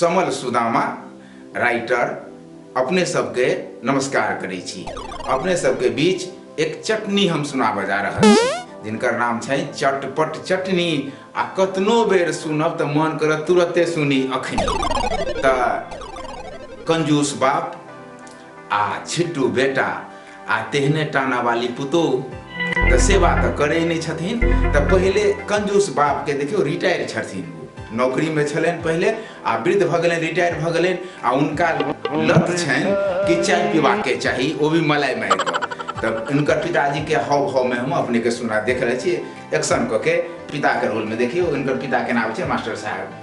समल Sudama writer अपने सबके नमस्कार करै छी अपने सबके बीच एक चटनी हम सुनाबऽ जा रहल छी जिनकर नाम छै चटपट चटनी आ कतनो बेर सुनब तऽ मन करत तुरते सुनी अखनी तऽ कंजूस बाप आ छिट्टू बेटा आ तेहने टाना वाली पुतोह तऽ सेवा तऽ करै नहि छथिन तऽ पहिले कंजूस बापके देखियौ रिटायर छथिन ओ। नौकरीमे छलनि पहिले आ वृद्ध भऽ गेलनि रिटायर भऽ गेलनि आ हुनका लत छनि कि चाय पीबाके चाही ओ भी मलाई मारि कऽ तब इनकर पिताजी के हाव भाव में हम अपने के सुना देख रहे छी एक्शन कऽ के पिता के रोल में देखियो इनकर पिता के नाम छै मास्टर साहब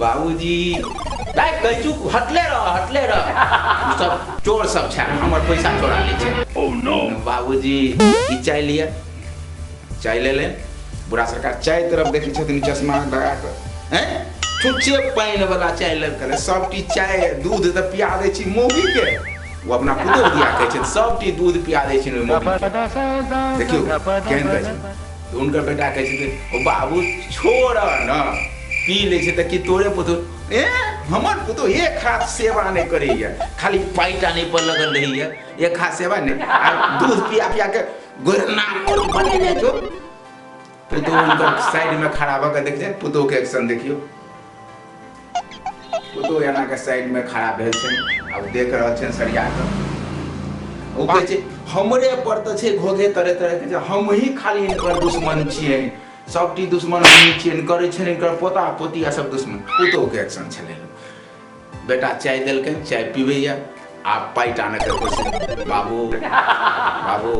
बाबूजी दाइ कहै छु हटले रह हटले रह ई सब चोर सब छै हमर पैसा चोरा लै छै ओ नो बाबूजी ई चाय लिअ चाय ले ले बुढ़ा सरकार चाय तरफ देखै छथिन चश्मा लगा कऽ हैं छुच्छे पानि वाला चाय लग कऽ सब टी चाय दूध तऽ पिया दै छी मौगी के वो अपना पुतोह दिया कहै छथिन सब टी दूध पिया दै छथिन ओहि मौगी के देखियौ केहन कहै छथिन तऽ हुनकर बेटा कहै छथिन ओ बाबू छोड़ न पी लै छै तऽ कि तोरे पुतहु ए हमर पुतहु एक हाथ सेवा नहि करैए खाली पाइ टाने पर लगल रहैए एक हाथ सेवा नहि आ दूध पिया पिया के गोरना बनेने छौ पुतहु हुनकर साइडमे खड़ा भऽ कऽ देखियै पुतहुके एक्शन देखियौ पुतोह एना के साइड में खड़ा भेल छै आ ओ देख रहल छै सरिया के ओ कहै छै हमरे पर तऽ छै घोघे तरे तरे के जे हम ही खाली इनकर दुश्मन छियै सबटी दुश्मन हमही छियै इनकर छै इनकर पोता पोती आ सब दुश्मन पुतोह के एक्शन छलै बेटा चाय देलकै चाय पीबैया आ पाइ टानैके कोशिश बाबू बाबू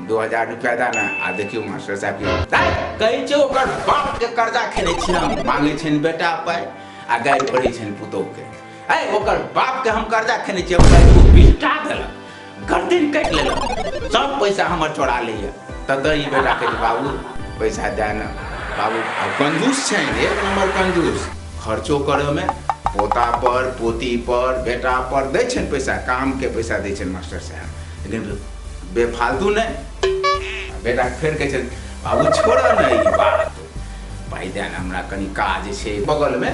दू हजार रुपया दा ने आ देखियौ मास्टर साहब की दाइ कहै छै ओकर बाप के कर्जा खेने छी हम मांगे छन बेटा पाइ आ गारि पड़ै छन पुतोह के ऐ ओकर बाप के हम कर्जा खेने छी हमरा एगो बिस्टा देलक गर्दन काटि लेलक सब पैसा हमर चोरा लैया तब ई बेटा के बाबू पैसा दे ने बाबू आ कंजूस छै एक नंबर कंजूस खर्चो करे में पोता पर पोती पर बेटा पर दै छन पैसा काम के पैसा दै छन मास्टर साहब लेकिन बेफालतू ने बेटा फेर कहै छै बाबू छोड़ ने ई बात पाइ दे ने हमरा कनि काज छै बगलमे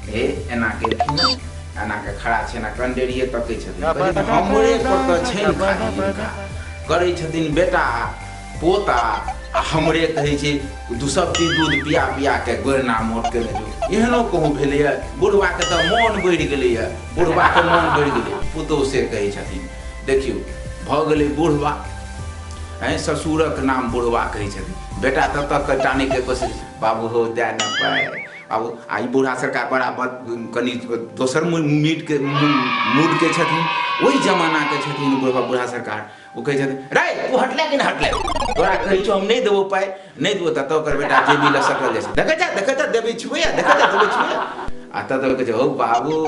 हे एना केलखिन हँ, एना के खड़ा छै एना कंडेरिए तकै छथिन कहै छथिन, हमरे पर तऽ छै ने खाली हिनका करै छथिन बेटा पोता आ हमरे कहै छै दू सब चीज दूध पिया पिया के गोरना मोट केने जो एहनो कहूँ भेलैए बुढ़बाके तऽ मोन बढ़ि गेलैए बुढ़बाके मोन बढ़ि गेलै पुतोह से कहै छथिन देखियौ भऽ गेलै बुढ़वा आँय ससुरक नाम बुढ़वा कहै छथिन बेटा तब तक कऽ टानैके कोशिश बाबू हो दए न पाए आब आ ई बूढ़ा सरकार बड़ा बद- कनि दोसर मू- मीटके मू- मूडके छथिन ओहि जमानाके छथिन बुढ़वा बूढ़ा सरकार ओ कहै छथिन रे तू हटले कि नहि हटले तोरा कहै छौ हम नहि देबो पाइ नहि देबो तऽ तब ओकर बेटा जेबी लऽ सकल जाइ छै देखै जा देखै जा देबै छुबैया देखै जा देबै छुबैया आ तब तक कहै छै हौ बाबू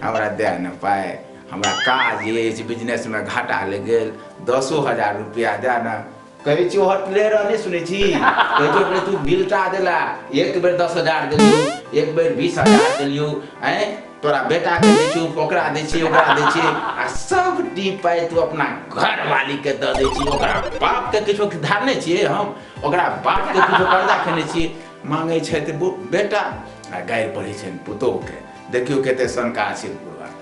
हमरा दए न पाइ हमरा काज अछि बिजनेसमे घाटा लागि गेल दसो हजार रुपैआ दए ने कहै छी होटले रह नहि सुनै छी कहै छी होटले तू बिलटा देला एक बेर दस हजार देलियौ एक बेर बीस हजार देलियौ आँय तोरा बेटाके दै छी ओकरा दै छी ओकरा दै छी आ सब डी पाइ तू अपना घरवालीके दऽ दै छी ओकरा बापके किछो धारने छियै हम ओकरा बापके किछो कर्जा खेने छियै मांगै छथि बेटा आ गारि पढ़ै छनि पुतोहके देखियौ कते शंका छै